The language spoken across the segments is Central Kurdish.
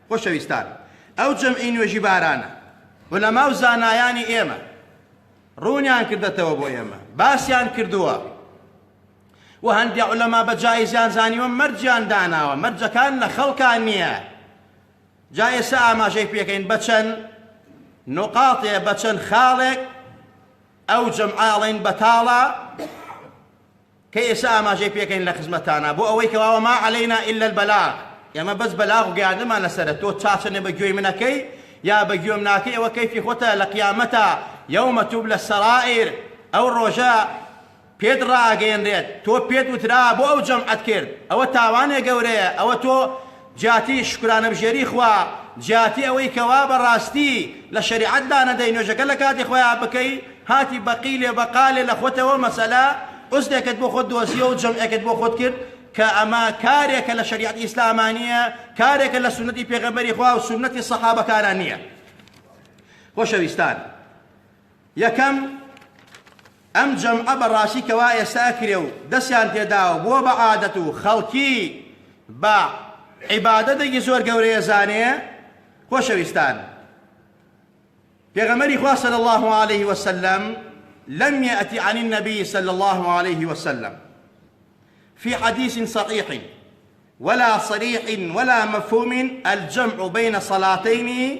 خۆشەویستان ئەو جەمعی نوێژی بارانە عولەماو زانایانی ئێمە ڕوونیان کردەتەوە بۆ ئێمە باسیان کردووە و هەندێک عولەما بە جایزیان زانیوە مەرجیان داناوە مەرجەکان لە خەڵکان نییە جا ئێستا ئاماژەی پێکەین بە چەند نقاطێ بە چەند خاڵێک ئەو جەمعاڵین بەتاڵە کە ئێستا ئاماژەی پێکەین لە خزمەتتانا بۆ ئەوەی کەوا وما علینا الا البلاغ ئێمە بەس بەلاغ و گەیاندنمان لەسەرە تۆ چاچەنێ بە گوێی من ئەکەی یا بە گوێم ناکەی ئەوە کەیفی خۆتە لە قیامەتا یوم تبلی السرائر ئەو ڕۆژە پێت ڕاگەیەنرێت تۆ پێت وترا بۆ ئەو جەمعەت کرد ئەوە تاوانێ گەورەیە ئەوە تۆ جیاتی شوکرانەبژێری خوا، جیاتی ئەوەی کە وا بە ڕاستی لە شەریعەت دانەدەی نوێژەکە لە کاتی خۆیا بکەی، هاتی بە قیلێ بە قالێ لە خۆتەوە مەسەلە عوزرێکت بۆ خۆت دۆزییە و جەمعێکت بۆ خۆت کرد، کە ئەمە کارێکە لە شەریعەتی ئیسلاما نییە، کارێکە لە سوننەتی پێغەمبەری خوا و سوننەتی سەحابەکانا نییە. خۆشەویستان! یەکەم، ئەم جەمعە بە ڕاستی کەوا ئێستا کرێ و دەستیان پێ داوە بووە بە عادەت و خەڵکی بە عیبادەتێکی زۆر گەورە ئەزانێ. خۆشەویستان، پێغەمبەری خوا صلی اللە علیه وسلم لم یأت عن النبی صلی اللە علیه وسلم فی حدیث صحیح ولا صریح ولا مفهوم الجمع بین صلاتین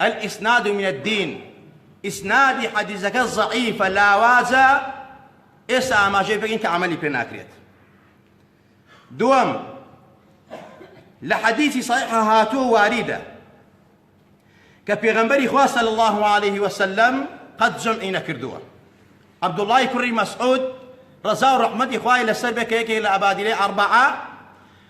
الاسناد من الدین، ئیسنادی حەدیسەکە زەعیفە، لاوازە، ئێستا ئاماژەی پێکەین کە عەمەلی پێ ناکرێت. دووەم، لە حەدیسی صحیحە هاتووە واریدە کە پێغەمبەری خوا صلی الله علیه وسلم قەت جەمعی نەکردووە. عەبدوڵڵای کوڕی مەسعود ڕەزا و ڕەحمەتی خوای لەسەر بێ کە یەکێک لە ئەبادیلەی ئەڕبەعە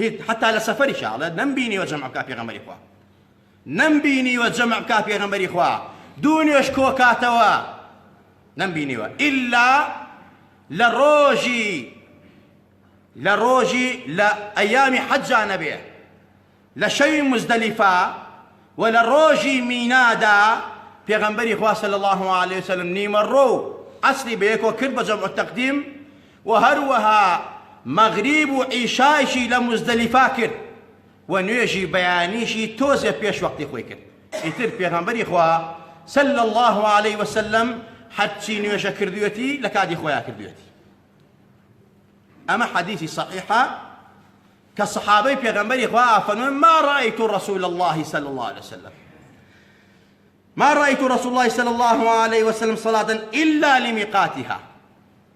هیچ حەتا لە سەفەریشا ئەڵێ نەمبینیوە جەمع بکا پێغەمبەری خوا نەمبینیوە جەمع بکا پێغەمبەری خوا دوو نوێژ کۆکاتەوە نەمبینیوە ئیلا لە ڕۆژی لە ڕۆژی لە ئەیامی حەجا نەبێ لە شەوی مزدەلیفا و لە ڕۆژی مینادا پێغەمبەری خوا صلی الله علیه وسلم نیمە ڕۆ عەسری بەیەکۆ کرد بە جەمع تەقدیم وە هەروەها مەغریب و عیشایشی لە موزدەلیفە کرد وە نوێژی بەیانیشی تۆزێ پێش وەقتی خۆی کرد ئیتر پێغەمبەری خوا صلی اللە علیە وسلم هەرچی نوێژە کردوێتی لە کاتی خۆیان کردوێتی ئەمە حەدیثی صحیحە کە صحابەی پێغەمبەری خوا ئافەنون ما رأیت رسول الله صلی اللە علیە وسلم ما رأيت رسول الله صلى الله عليه وسلم صلاة إلا لميقاتها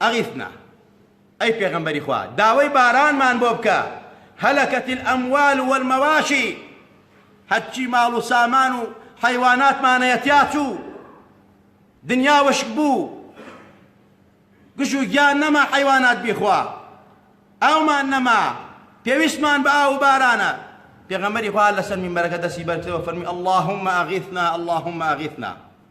اغثنا، ئەی پێغەمبەری خوا داوای بارانمان بۆ بکە، هلکت الاموال والمواشی، هەرچی ماڵ و سامان و حەیواناتمان هەیە تیا چوو، دنیا وشک بوو، گژ و گیان نەما حەیوانات بیخوا، ئاومان نەما، پێویستمان بە ئاو و بارانە، پێغەمبەری خوا هەر لەسەر مینبەرەکە دەستی بەرکردەوە فەرمووی، اللهم اغثنا، اللهم اغثنا.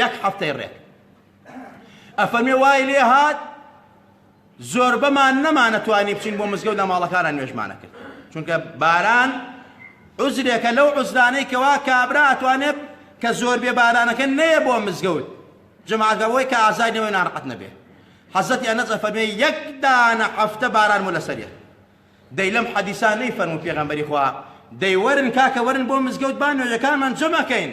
یەک هەفتەی ڕێک ئەفەرمێ وای لێ هات زۆربەمان نەمانەتوانی بچین بۆ مزگەوت لە ماڵەکانە نوێژمانە کرد چونکە باران عزرێکە لەو عزرانەی کەوا کابرا ئەتوانێت کە زۆر بێ بارانەکە نەیە بۆ مزگەوت جماگەەوەی کە ئازای نەوەی ناڕقەت نەبێ حەزەتی ئەنەز ئەفەرمێ یەک دانە هەفتە باران و لەسەریە دەی لەم حەدیسان نەی فەرمو پێغەمبەری خوا دەی وەرن کاکە وەرن بۆ مزگەوت بان نوێژەکانمان جمەکەین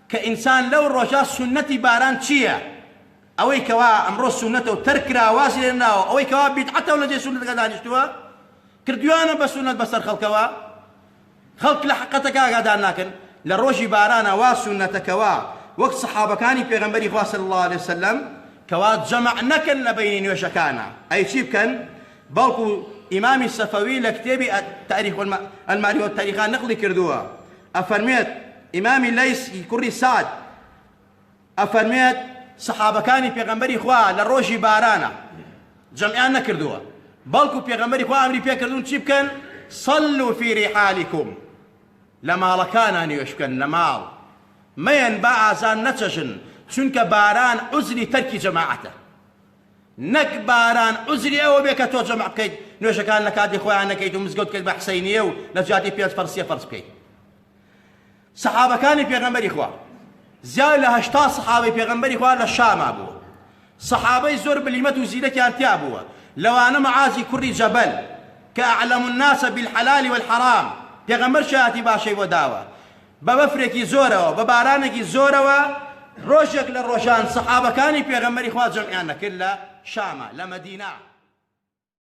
کە ئینسان لەو ڕۆژە سوننەتی باران چییە؟ ئەوەی کەوا ئەمڕۆ سوننەتە و تەرک کراوە واز لێنراوە، ئەوەی کەوا بیدعەتە و لە جێ سوننەتەکە دانیشتووە، کردوویانە بە سوننەت بەسەر خەڵکەوە، خەڵک لە حەقیقەتەکە ئاگادار ناکەن، لە ڕۆژی بارانە وا سوننەتە کەوا وەک سەحابەکانی پێغەمبەری خوا صلی اللە علیە وسلم کەوا جەمع نەکەن لە بەینی نوێژەکانا، ئەی چی بکەن؟ بەڵکو ئیمامی سەفەوی لە کتێبی، تاریخ الماری والتاریخە، نقڵی کردووە، ئەفەرموێت، ئیمامی لەیس ی کوڕی سەعد ئەفەرموێت، سەحابەکانی پێغەمبەری خوا لە ڕۆژی بارانە جەمعیان نەکردووە، بەڵکو پێغەمبەری خوا ئەمری پێکردوون چی بکەن، صلوا فی رحالکم، لە ماڵەکانا نوێژ بکەن، لە ماڵ مەیەن با ئازان نەچەژن، چونکە باران عوزری تەرکی جەماعەتە. نەک باران عوزری ئەوە بێ کە تۆ جەمع بکەیت نوێژەکان لە کاتی خۆیان نەکەیت و مزگەوت بکەیت بە حسەینیە و لە جیاتی پێنج فەرز سێ فەرز بکەیت سەحابەکانی پێغەمبەری خوا زیاد لە هەشتا سەحابەی پێغەمبەری خوا لە شاما بوو سەحابەی زۆر بلیمەت و زیرەکیان تیا بووە لەوانە معازی کوڕی جەبەل کە ئەعلەم الناس بالحلال والحرام پێغەمبەر شایەتی باشەی بۆ داوە بە بەفرێکی زۆرەوە، بە بارانێکی زۆرەوە، ڕۆژێک لە ڕۆژان سەحابەکانی پێغەمبەری خوا جەمعیان دەکرد لە شامە، لە مەدینە.